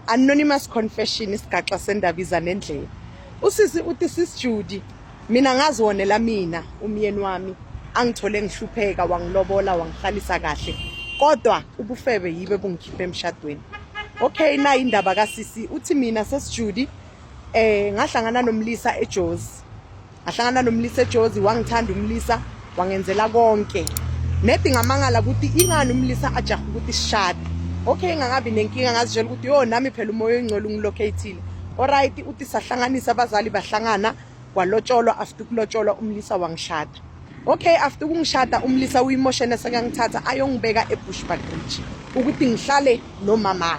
anonymous confession isigaxa sendaba iza nendlela usisi uthi sis Judy mina ngaziwonela mina umyeni wami angithole ngihlupheka wangilobola wangihlalisa kahle kodwa ubufebe yibe bungikhiphe emshadweni okay nayi indaba kasisi uthi mina sesijudi eh ngahlangana nomlisa eJozi ngahlangana nomlisa ejozi wangithanda umlisa wangenzela konke nedi ngamangala ukuthi ingani umlisa ajaha ukuthi sishade okay ngakabi nenkinga ngazitshela ukuthi yo nami phela umoya oyingcwele ungilocatile oright uthi sahlanganisa abazali bahlangana kwalotsholwa after ukulotsholwa umlisa wangishada okay after ukungishada umlisa uyimoshene sekangithatha ayongibeka ebushbuck bridge ukuthi ngihlale nomama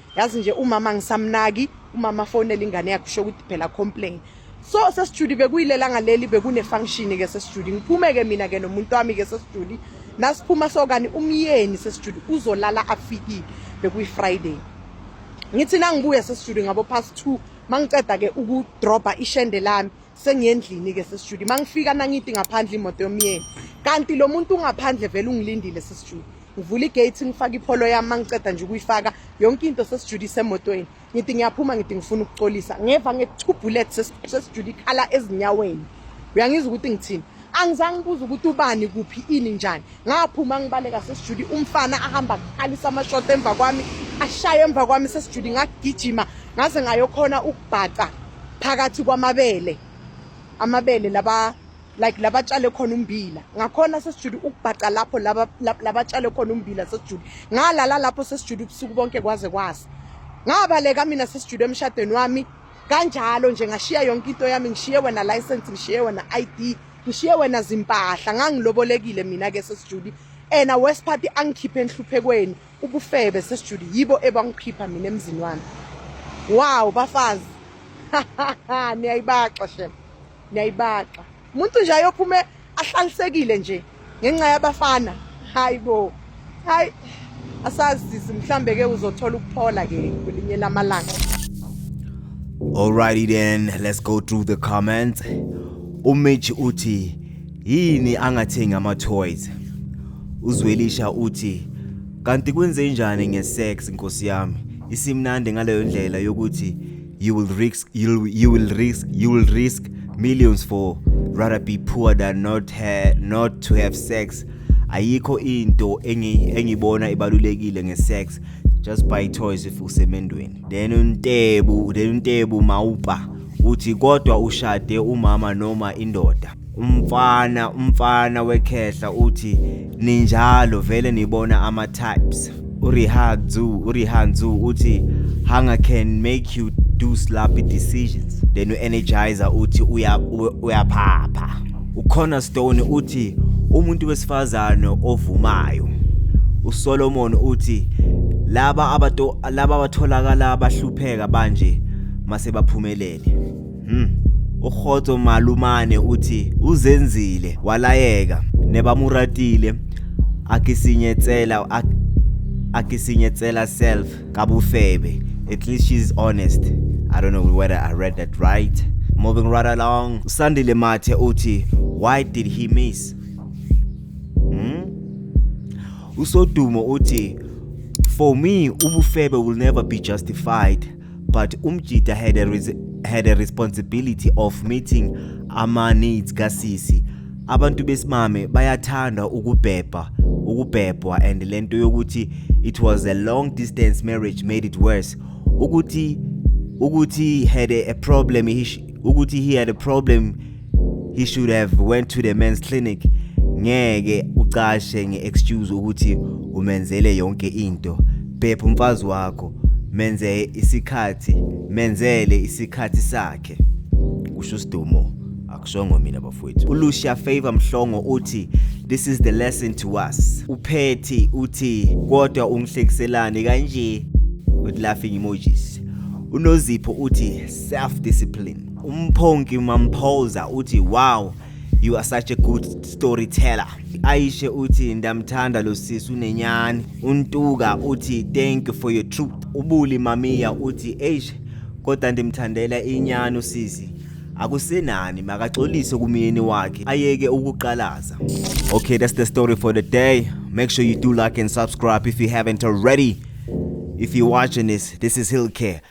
yazi nje umama ngisamnaki umama fonela ingane yakhe usho ukuthi phela complain so sesijudi bekuyilela ngaleli bekune-function ke sesijudi ngiphume-ke mina ke nomuntu wami ke sesijudi nasiphuma sokani umyeni sesijudi uzolala afikile bekuyi-friday ngithi nangibuye sesijudi ngabo past two mangiceda ke ukudrobha ishende lami sengiyendlini ke sesijudi mangifika nangithi ngaphandle imoto yomyeni kanti lo muntu ungaphandle vele ungilindile sesijudi ngivula igate ngifaka ipholo yami mangiceda nje ukuyifaka yonke into sesijulise emotweni ngithi ngiyaphuma ngithi ngifuna ukuxolisa ngeva nge-two bullet sesijula ikhala ezinyaweni uyangizwa ukuthi ngithini angizange ngibuza ukuthi ubani kuphi ini njani ngaphuma ngibaleka sesijuli umfana ahamba kuqalisa amashoti emva kwami ashaye emva kwami sesijuli ngagijima ngaze ngayokhona ukubhaca phakathi kwamabele amabele laba like labatshale khona umbila ngakhona sesijule ukubhaca lapho laba labatshale khona umbila sesijule ngalala lapho sesijule ubusuku bonke kwaze kwasa ngabaleka mina sesijule emshadweni wami kanjalo nje ngashiya yonke into yami ngishiye wena license ngishiye wena ID ngishiye wena zimpahla ngangilobolekile mina ke sesijule ena worst part angikhiphe enhluphekweni ubufebe sesijule yibo ebangikhipha mina emzini wami wow bafazi niyayibaxa shema niyayibaxa umuntu nje ayophume ahlalisekile nje ngenxa yabafana hayi bo hayi asazi mhlambe ke uzothola ukuphola ke kwelinye lamalanga Alrighty then let's go through the comments uMitch uthi yini angathengi ama toys uzwelisha uthi kanti kwenze njani ngesex nkosi yami isimnandi ngaleyo ndlela yokuthi you will risk you you will risk you will risk millions for rather be poor than not ha not to have sex ayikho into engi engibona ibalulekile ngesex just buy toys if usemendweni then untebu then untebu mawuba uthi kodwa ushade umama noma indoda umfana umfana wekhehla uthi ninjalo vele nibona ama types urihanzu urihanzu uthi hunger can make you do sloppy decisions then u-energizer uthi uyaphapha ucornerstone uthi umuntu wesifazane ovumayo usolomon uthi laba abato laba abatholakala bahlupheka banje mase baphumelele Hmm. Urhotso malumane uthi uzenzile walayeka nebamuratile akisinyetsela ak akisinyetsela self kabufebe at least she's honest i don't know whether i read that right moving right along usandile mathe uthi why did he miss hmm? usodumo uthi for me ubufebe will never be justified but umjita had a, res had a responsibility of meeting ama-needs kasisi abantu besimame bayathanda ukubhebha ukubhebhwa and le nto yokuthi it was a long distance marriage made it worse ukuthi ukuthi had a, a problem he, ukuthi he had a problem he should have went to the men's clinic ngeke ucashe nge-excuse ukuthi umenzele yonke into phepha umfazi wakho menze isikhathi menzele isikhathi sakhe kusho usidumo akushongo mina bafowethu ulucia favor mhlongo uthi this is the lesson to us uphethi uthi kodwa ungihlekiselani kanje with laughing emojis unozipho uthi self discipline umphonki mamphoza uthi wow you are such a good storyteller ayishe uthi ndamthanda lo sisi unenyani untuka uthi thank you for your truth ubuli mamiya uthi eish kodwa ndimthandela inyani usisi akusenani makaxolise kumyeni wakhe ayeke ukuqalaza okay that's the story for the day make sure you do like and subscribe if you haven't already if you're watching this this is hill care